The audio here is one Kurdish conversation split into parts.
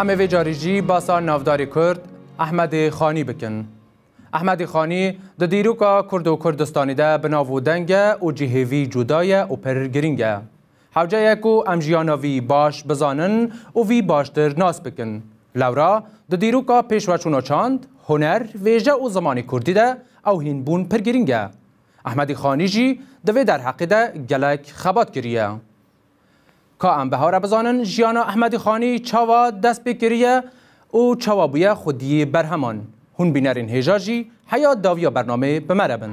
Em ê vê carî jî basa navdarê Kurd Ehmedê Xanî bikin. Ehmedê Xanî di dîroka Kurd û Kurdistanê de bi nav û deng e û cihêvî cuda ye û pir girîng e. Hewce ye ku em jiyana vî baş bizanin û vî baştir nas bikin. Lewra di dîroka pêşveçûna çand, huner, vêje û zimanê kurdî de ew hînbûn pir girîng e. Ehmedî Xanî jî di vê derheqê de gelek xebat kiriye. Ka em bihare bizanin jiyana Ehmedî Xanî çawa dest pê kiriye Û çawa bûye xwediyê berheman. Hûn bînerên hêja jî heya dawiya bernamê bi me re bin.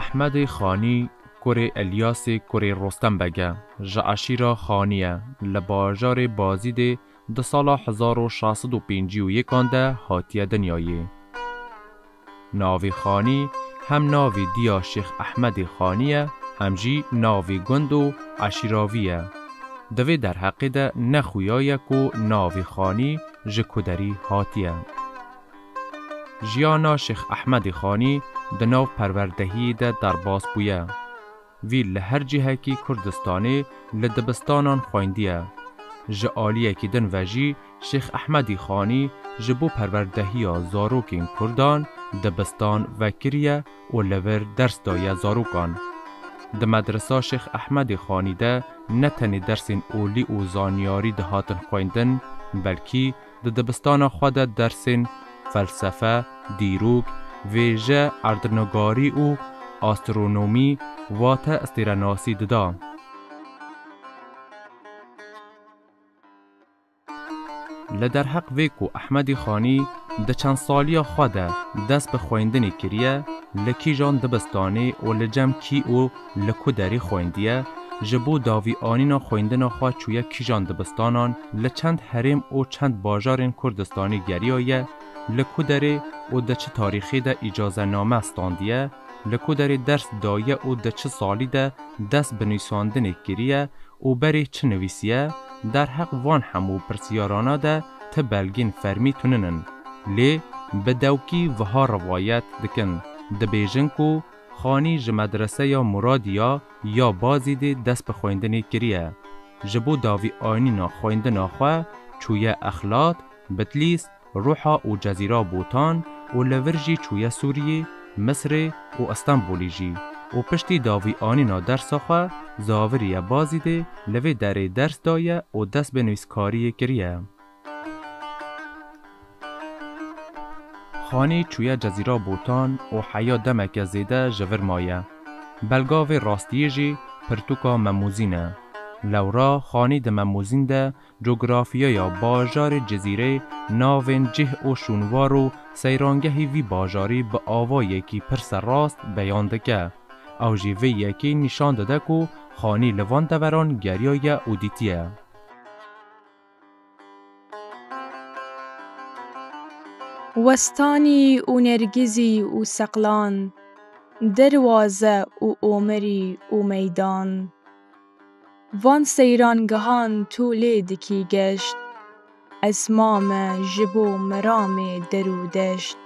Ehmedê Xanî kurê Elyasê kurê Rostem Beg e, ji eşîra Xanî ye, li bajarê Bazîdê di sala hezar û şeş sed û pêncî û yek an de hatiye dinyayê. Navê xanî hem navê diya Şêx Ehmedê Xanî ye hem jî navê gund û eşîravî ye. Di vê derheqê de ne xuya ye ku navê xanî ji ku derî hatiye. Jiyana Şêx Ehmedê Xanî di nav perwerdehiyê de derbas bûye. Vî li her cihekî Kurdistanê li dibistanan xwendiye. Ji aliyekî din ve jî Şêx Ehmedî Xanî ji bo perwerdehiya zarokên Kurdan dibistan vekiriye û li vir ders daye zarokan. Di Medresa Şêx Ehmedê Xanî de ne tenê dersên olî û zanyarî dihatin xwendin belkî Di dibistana xwe de dersên Felsefe, Dîrok, Vêje, Erdnûgarî û Astronomî wate Stêrenasî dida. Li derheq vê ku Ehmedî Xanî di çendsaliya xwe de dest bi xwendinê kiriye, li kîjan dibistanê û li cem kî û, Li ku derî xwendiye, ji bo davîanîna xwendina xwe çûye kîjan dibistanan, li çend herêm û çend bajarên Kurdistanî geriyaye, li ku derê û di çi tarîxê de îcazename standiye, li ku derê ders daye û di çi salî de dest bi nûsandinê kiriye û berê çi nivîsiye, derheq van hemû pirsiyarana de ti belgên fermî tunin in. Lê bi dewkî viha rivayet dikin, dibêjin ku. Xanî ji Medreseya Muradiya ya Bazîdê dest bi xwendinê kiriye. Ji bo davî anîna xwendina xwe çûye Exlat, Bitlîs, Ruha û Cezîra Botan û li vir jî çûye Sûriyê, Misrê û Îstenbûlê jî û piştî davî anîna dersa xwe zaviriye Bazîdê li vê derê ders daye û dest bi nivîskariyê kiriye. Xanî çûye Cezîra Botan û heya demeke zêde ji vir maye. Belga vê rastiyê jî pirtûka Memûzîn e. Lewra Xanî di Memûzîn de cografyaya bajarê Cizîrê, navên cih û şûnwar û seyrangehî vî bajarî bi avayekî pir serrast beyan dike. Ew jî vê yekê nîşan dide ku Xanî li van deveran geriyaye û dîtiye. Westanî û nergîzî û seqlan, derwaze û omerî û meydan. Van seyran gihan tu lê dikî geşt, ez ma me ji bo meramê der û deşt.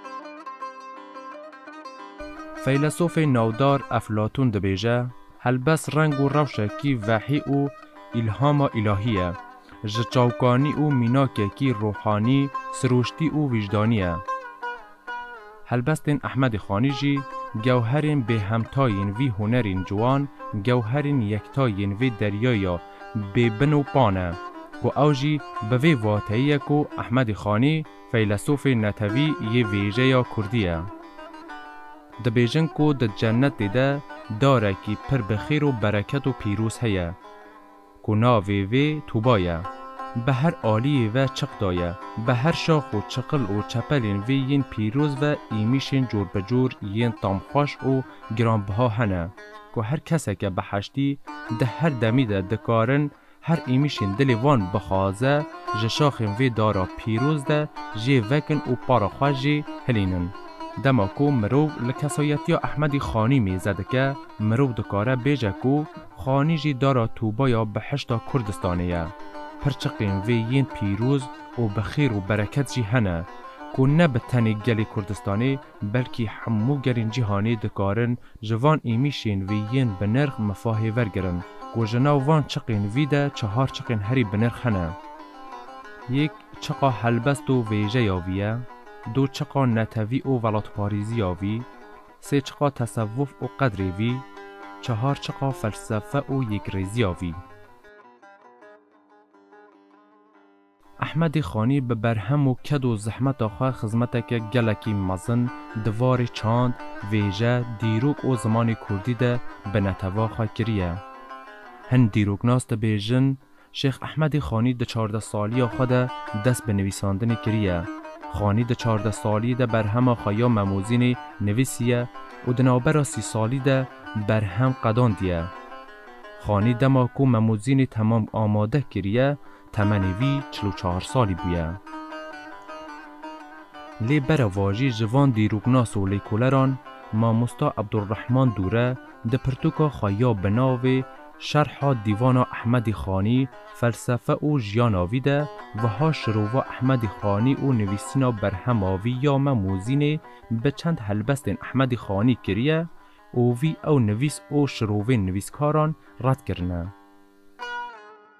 Feylesofê navdar Eflatûn dibêje. Helbest reng û rewşekî vehî û îlhama îlahî ye, ji çawkanî û mînakekî ruhanî, sirûştî û wijdanî ye. Helbestên Ehmedê Xanî jî gewherên bêhemta yên vî hunerên ciwan, gewherên yekta yên vê deryaya bêbin û pa ne, ku ew jî bi vê vateyê ye ku Ehmedê Xanî feylesofê netewî yê vêjeya kurdî ye. Dibêjin ku di cenetê de darekî pir bi xêr û bereket û pîroz heye ku navê vê Tuba ye. Bi her aliyê ve çiq daye. Bi her şax û çiqil û çepelên vê yên pîroz ve îmîşên corbicor yên tamxweş û giranbiha hene ku her keseke biheştî di her demî de dikarin Her êmişên dilê wan bixwaze ji şaxên vê dara pîroz de jê vekin û para xwe jê hilînin. Dema ku mirov li kesayetiya Ehmedî Xanî mêze dike, mirov dikare bêje ku Xanî jî dara tûba ya bihişta Kurdistanê ye. Pirçiqên vê yên pîroz û bi xêr û bereket jî hene ku ne bi tenê gelê Kurdistanê Belkî hemû gelên cîhanê dikarin ji van êmîşên vê yên binirx mifahê wergirin ku ji nav van çiqên vî de çehar çiqên herî binirx hene. Yek çiqa helbest û vêjeya vî ye, du çiqa netewî û welatparêziya vî, sê çiqa tesewuf û qedrê vî, çehar çiqa felsefe û yekrêziya vî. Ehmedî Xanî bi berhem û ked û zehmeta xwe xizmeteke gelekî mezin di varê çand, vêje, dîrok û zimanê kurdî de bi netew'a xwe kiriye. Hin dîroknas dibêjin, Şêx Ehmedî Xanî di çardeh saliya xwe de dest bi nivîsandinê kiriye. Xanî di çardeh saliyê de berhema xwe ya Memozînê nivîsiye û di navbera sî salî de berhem qedandiye. Xanî dema ku Memozînê temam amade kiriye, Temenê vî çil û çar salî bûye. Lê bereva jî ji van dîroknas û lêkoleran Mamosta Ebdulrehman Dûre di pirtûka xwe ya bi navê Şerha Dîvana Ehmedî Xanî, Felsefe û Jiyana vî de wiha şirova Ehmedî Xanî û nivîsîna berhema vî ya Me Mozînê bi çend helbestên Ehmedî Xanî kiriye û vî ew nivîs û şirovên nivîskaran red kirine.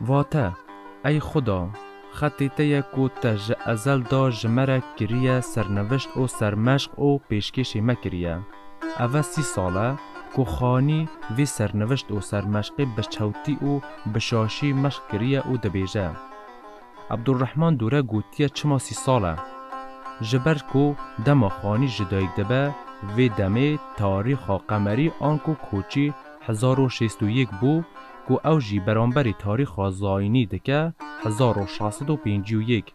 Vate, Ey Xuda, xetê te ye ku te ji ezel da ji me re kiriye sernivişt û sermeşq û pêşkêşê me kiriye. Ev e sî sal e ku xanî vê sernivişt û sermeşqê bi çewtî û bi şaşî meşq kiriye û dibêje, Abdulrehman Dûre gotiye çima sî sal e? Ji ber ku dema xanî ji dayik dibe, vê demê tarîxa qemerî anku koçî hezar û şêst û yek bû ku ew jî beramberî tarîxa zayînî dike hezar û şeş sed û pêncî û yek,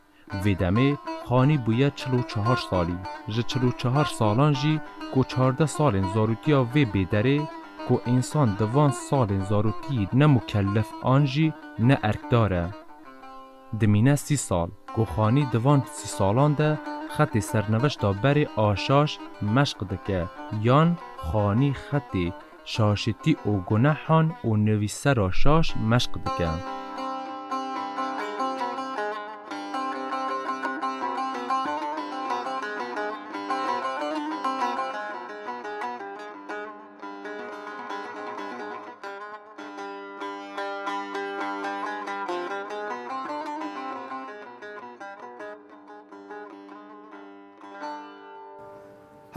vê demê xanî bûye çil û çar salî. Ji çil û çar salan jî ku çardeh salên zaroktiya vê bê derê ku însan di van salên zaroktiî ne mukellef an jî ne erkdar e. Dimîne sî sal ku Xanî di van sî salan de xetê serneveşta berê a şaş meşq dike yan Xanî xetê şaşitî û gunehan û nivîsera şaş meşq dike.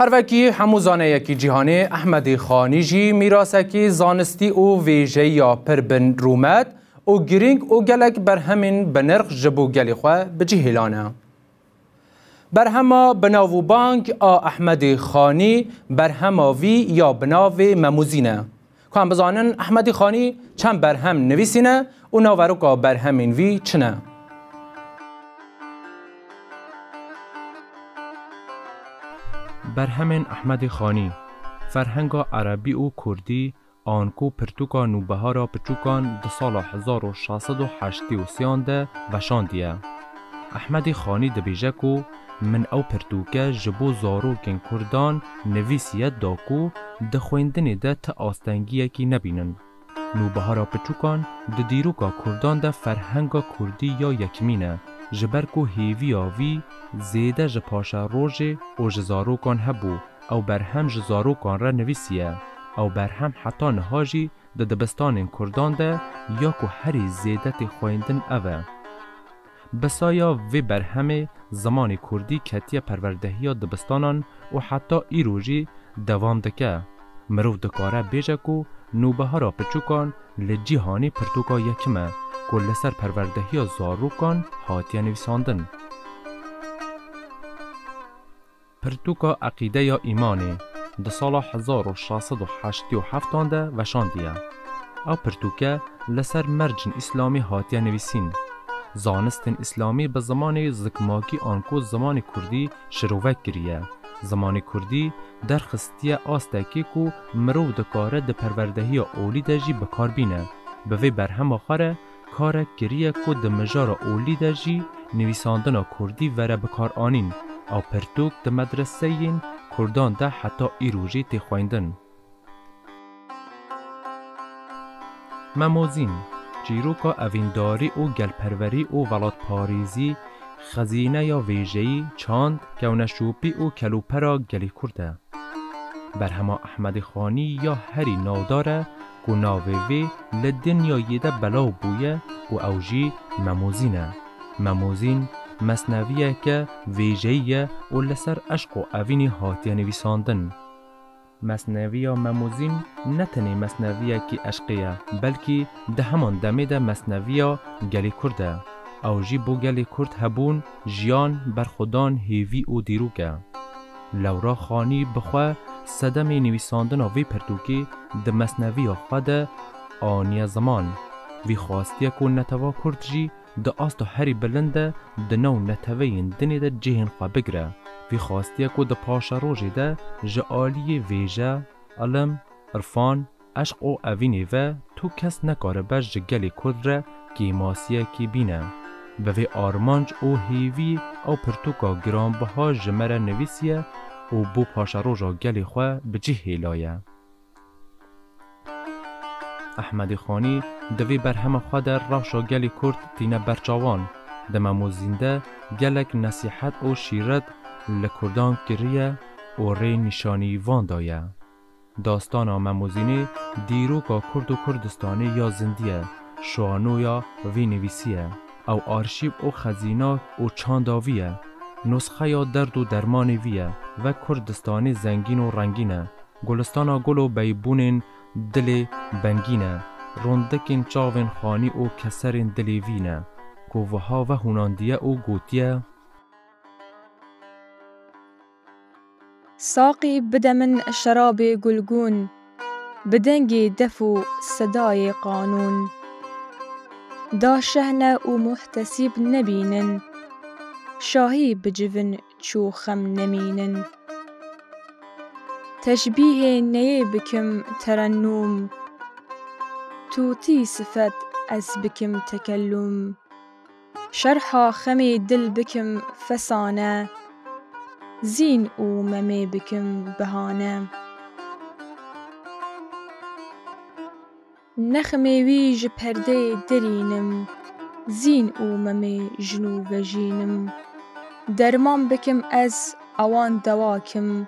Her vekî hemû zaneyekî cîhanê Ehmedî Xanî jî mîrasekî zanistî û vêjeya pir bin rûmet û girîng û gelek berhemên binirx ji bo gelê xwe bi cih hêlane. Berhema binav û bang a Ehmedê Xanî berhema vî ya bi navê Memûzîn e. Ku em bizanin Ehmedê Xanî çend berhem nivîsîne û naveroka berhemên vî çi ne? Berhemên Ehmedê Xanî, ferhenga erebî û kurdî Anko pirtûka Nûbehara Piçûkan di sala hezar û şeş sed û heştê û sê an de veşandiye. Ehmedê Xanî dibêje ku min ew pirtûke ji bo zarokên kurdan nivîsiye da ku di xwendinê de ti astengiyekî nebînin. Nûbehara Piçûkan di dîroka kurdan de ferhenga kurdî ya yekimîn e ji ber ku hêviya vî zêde ji paşerojê û ji zarokan hebû Ew berhem ji zarokan re nivîsiye. Ew berhem heta niha jî di dibistanên kurdan de ya ku herî zêde tê xweyndin ev e. Bi saya vê berhemê zimanê kurdî ketiye perwerdehiya dibistanan û heta îro jî devam dike. Mirov dikare bêje ku Nûbihara Piçûkan li cîhanê pirtûka yekim e ku li ser perwerdehiya zarokan hatiye nivîsandin. Pirtûka Eqîde ya Îmanê di sala hezar û şeş sed û heştî û heft an de veşandiye. Ew pirtûke li ser mercên îslamî hatiye nivîsîn. Zanistên îslamî bi zimanê zikmakî anku zimanê kurdî şirovek kiriye. Zimanê kurdî derxistiye astekê ku mirov dikare di perwerdehiya olî de jî bikar bîne. Bi vê berhema xwe re, Karek kiriye ku di mijara olî de jî nivîsandina kurdî vere bikaranîn a pirtûk di medreseyên kurdan de heta îro jî tê xwendin. Memozîn, çîroka evîndarî û gelperwerî û welatparêzî, xezîneya vêjeyî, çand, kewneşopî û kelûpera gelê kurd e. Berhema Ehmedê Xanî ya herî navdar e, ku navê vê li dinyayê de belav bûye û ew jî Memozîn e. Memozîn mesneviyeke vêjeyî ye û li ser eşq û evînê hatiye nivîsandin. Mesneviya Memozîn ne tenê mesneviyekî eşqê ye, belkî di heman demê de mesneviya gelê Kurd e. Ew jî bo gelê Kurd hebûn, jiyan, berxwedan, hêvî û dîrok e. Lewra Xanî bi xwe sedemê nivîsandina vê pirtûkê di mesneviya xwe de aniye ziman. Vî xwastiye ku netewa kurd jî di asta herî bilind de di nav neteweyên dinê de cihên xwe bigire. Vî xwastiye ku di paşerojê de ji aliyê vêje, ilim, irfan, Eşq û evînê ve tu kes nekaribe ji gelê Kurd re kêmasiyekî bîne. Bi vê armanc û hêvî ew pirtûka giranbiha ji me re nivîsiye û bo paşeroja gelê xwe bi cih hêlaye. Ehmedê Xanî di vê berhema xwe de rewşa gelê Kurd tîne ber çawan. Di Memo Zînde gelek nesîhet û şîret li Kurdan kiriye û rê nîşanî van daye. Dastana Memozînê dîroka Kurd û Kurdistanê ya zindî ye, şanoya vî nivîsî ye. Ew arşîv û xezîna û çanda vî ye. Nusxeya derd û dermanê vî ye. Vek Kurdistanê zengîn û rengîn e. Gulistana gul û beybûnên dilê bengîn e. Rondekên çavên xanî û keserên dilê vî ne. Ku wiha vehûnandiye û gotiye. Saqî bide min şerabê gulgûn. Bi dengê def û sedayê qanûn. Da şehne û muhtesîb nebînin. Şahî bi civin çû xem nemînin. Teşbîhê neyê bikim terennûm. Tûtî sifet ez bikim tekellûm. Şerha xemê dil bikim fesane. Zîn û memê bikim bihane. Nexmê wî ji perdeyê dirînim. Zîn û memê jin û vejînim. Derman bikim ez ewan dewa kim.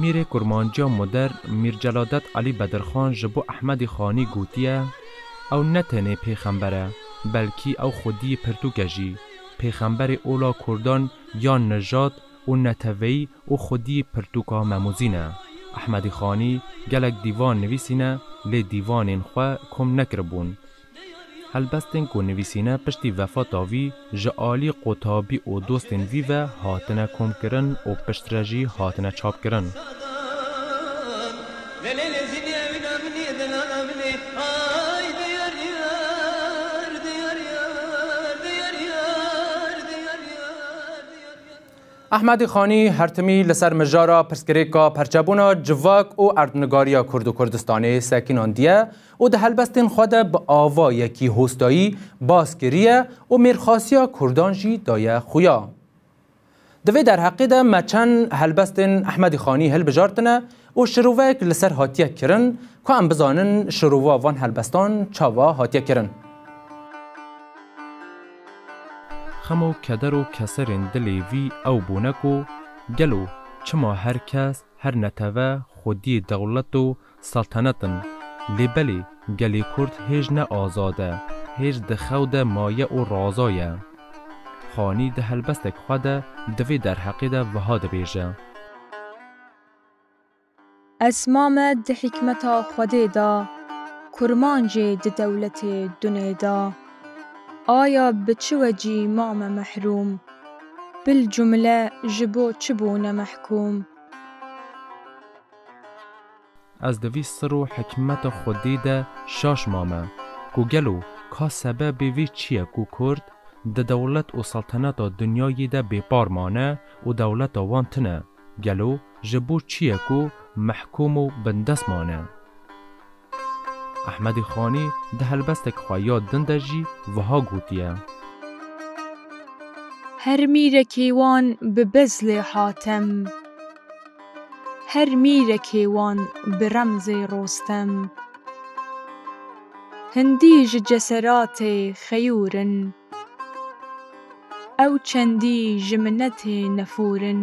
Mîrê kurmanciya modern Mîr Celadet Elî Bedirxan ji bo Ehmedî Xanî gotiye, Ew ne tenê pêxember e, belkî ew xwediyê pirtûk e jî. Pêxemberê ola kurdan ya nijad û neteweyî û xwediyê pirtûka Memûzîn e. Ehmedî Xanî gelek dîvan nivîsîne lê dîvanên xwe kom nekiribûn. Helbestên ku nivîsîne piştî vefata vî ji alî qutabî û dostên vî ve hatine komkirin û piştre jî hatine çapkirin. Ehmedî Xanî hertimî li ser mijara pirsgirêka perçebûna civak û erdnigariya Kurd û Kurdistanê sekinandiye û di helbestên xwe de bi ava yekî hostayî bas kiriye û mêrxasiya kurdan jî daye xuya. Di vê derheqê de me çend helbestên Ehmedî Xanî hilbijartine û şirovek li ser hatiye kirin ku em bizanin şirova van helbestan çawa hatiye kirin. Xem û keder û keserên dilê vî ew bûne ku gelo çima her kes, her neteve xwediyê dewlet û Seltenet in. Lê belê gelê Kurd hêj ne azad e, hêj di xew de maye û raza ye. Xanî di helbestek xwe de di vê derheqê de wiha dibêje. Esma me di hîkmeta Xwedê da, kurmancê di dewletê dunê da. Aya bi çi wecî ma me mehrûm? Bil cumle ji bo çi bûne mehkûm? Ez di vî sir û hikmeta xwedî de şaş mame ku gelo ka sebebê vî çi ye ku kurd di dewlet û selteneta dinyayî de bêpar mane û dewleta wan tune? Gelo ji bo çi ye ku mehkûm û bindest mane? Ehmedê Xanî di helbestek xwe ya din de jî wiha gotiye. Her mîrekê wan bi bezlê Hatem. Her mîrekê wan bi remzê Rostem. Hindî ji ceseratê xeyûr in. Ew çendî ji minetê nefûr in.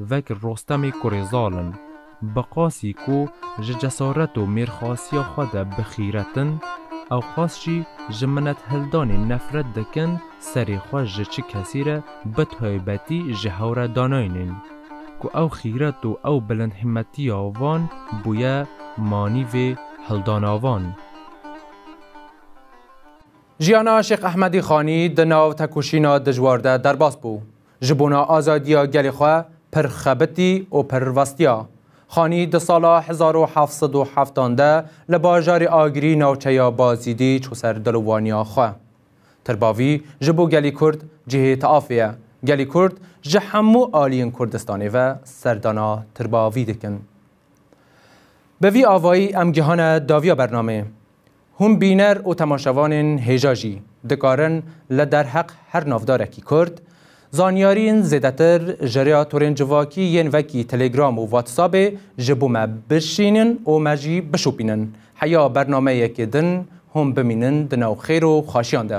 Vek Rostemê kurê zal in. Bi qasî ku ji cesaret û mêrxasiya xwe de bi xîret in, ewqas jî ji minethildanê nefret dikin serê xwe ji çi kesî re bi taybetî ji hew re danayînin ku ew xîret û ew bilindhîmmetiya wan bûye manîvê hildana wan. Jiyana Şêx Ehmedî Xanî di nav tekoşîna dijwar de derbas bû. Ji bona azadiya gelê xwe pir xebitî û pir vestiya. Xanî di sala hezar û heft sed û heftan de li bajarê Agirî navçeya Bazîdî çû ser dilovaniya xwe. Tirbavî ji bo gelî Kurd cihê tiafê ye. Gelî Kurd ji hemû aliyên Kurdistanê ve serdana Tirbavî dikin. Bi vî avayî em gihane daviya bernameyê. Hûn bîner û temaşevanên hêja jî dikarin li derheq her navdarekî Kurd, zanyarîn zêdetir ji rêya torên civakî yên vekî Telegram û Whatsappê ji bo me bişînin û me jî bişopînin heya bernameyekê din hûn bimînin di nav xêr û xaşiyan de.